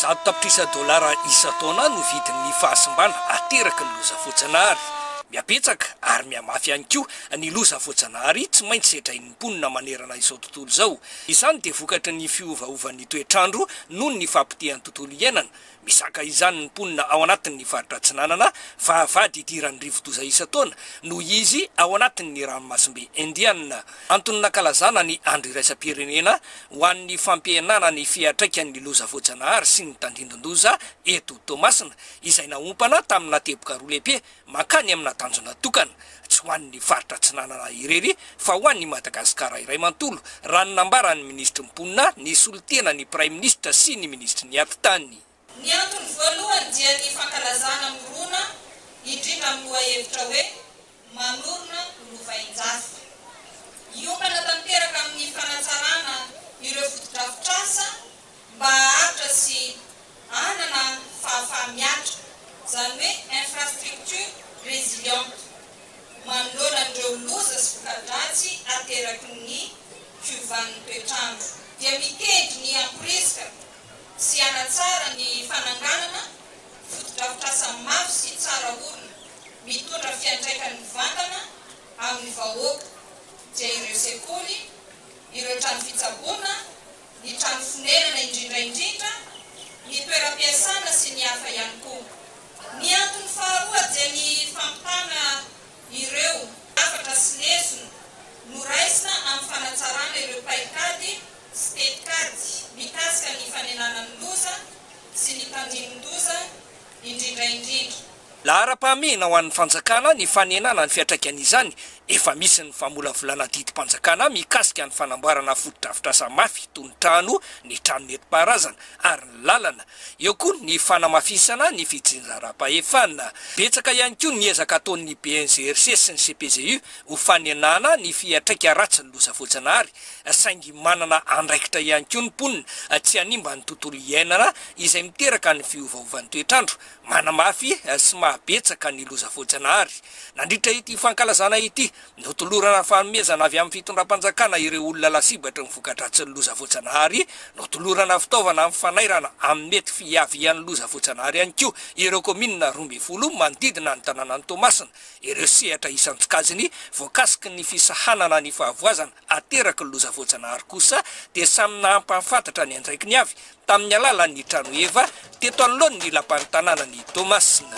Zato tapitrisa dolara isan-taona no vidin'ny fahasimbana ateraky ny loza voajanahary. Mihabetsaka ary mihamafy ihany koa ny loza voajanahary tsy maintsy sedrain'ny mponina manerana izao tontolo izao. Izany dia vokatry ny fiovaovan'ny toetr'andro noho ny fahapotehan'ny tontolo iainana, Mizaka izany ny mponina ao anatin'ny faritra Atsinanana fa vady idiran'ny rivodoza isan-taona noho izy ao anatin'ny ranomasimbe Indiana. Antony nankalazana ny andro iraisam-pirenena ho an'ny fampihenana ny fiantraikan'ny loza voajanahary sy ny tandindon-doza eto Toamasina, izay naompana tamina teboka roa lehibe mankany amina tanjona tokana, tsy ho an'ny faritra Atsinanana irery fa ho an'i Madagasikara iray manontolo, raha ny nambaran'ny minisitry ny Mponina nisolo tena ny praiminisitra sy ny minisitry ny Atitany. Ny antony voalohany dia ny fankalazana mirona indrindra amin'ny lohahevitra hoe Manorina lovain-jafy. Hiompana tanteraka amin'ny fanatsarana ireo fotodrafitrasa mba haharitra sy hanana fahafaha-miatra, izany hoe infrastructure résiliente, manoloana an'ireo loza sy voka-dratsy ateraky ny fiovan'ny toetr'andro. Dia miteny ny hamporisika sy hanatsara ny fananganana fotodrafitrasa mafy sy tsara orina, mitondra fiantraikany mivantana amin'ny vahoaka, dia ireo sekoly, ireo trano fitsaboana ny trano fonenana indrindra indrindra ny toeram-piasana sy ny hafa ihany koa. Ny antony faharoa dia ny fampitana ireo hafatra sy lesona noraisina amin'ny fanatsarana ireo paikady sy tetikady mikasika ny fanenana ny loza sy ny tandindoza, indrindra indrindra. Laharam-pahamehana ho an'ny fanjakana ny fanenana ny fiantraikan'izany, efa misy ny famolavolana didim-panjakana mikasika ny fanamboarana fotodrafitrasa mafy toy ny trano, ny trano nentim-paharazana ary ny lalana. Eo koa ny fanamafisana ny fitsinjaram-pahefana. Betsaka ihany koa ny ezaka ataon'ny BNGRC sy ny CPGU ho fanenana ny fiantraika ratsin'ny loza voajanahary saingy manana andraikitra ihany koa ny mponina tsy hanimba ny tontolo iainana izay miteraka ny fiovaovan'ny toetr'andro, manamafy sy mahabetsaka ny loza voajanahary. Nandritra ity fankalazana ity, notolorana fanomezana avy amin'ny fitondram-panjakana ireo olona lasibatry ny voka-dratsin'ny loza voajanahary, notolorana fitaovana amin'ny fanairana amin'ny mety fiavian'ny loza voajanahary ihany koa ireo kaominina roa ambin'ny folo manodidina ny tanànan'i Toamasina. ireo sehatra isan-tsokajiny voakasiky ny fisahanana ny fahavoazana ateraky ny loza voajanahary kosa dia samy nahampahafantatra ny andraikiny avy tamin'ny alalan'ny tranoheva teto anoloan'ny lapan'ny tanànan'i Toamasina.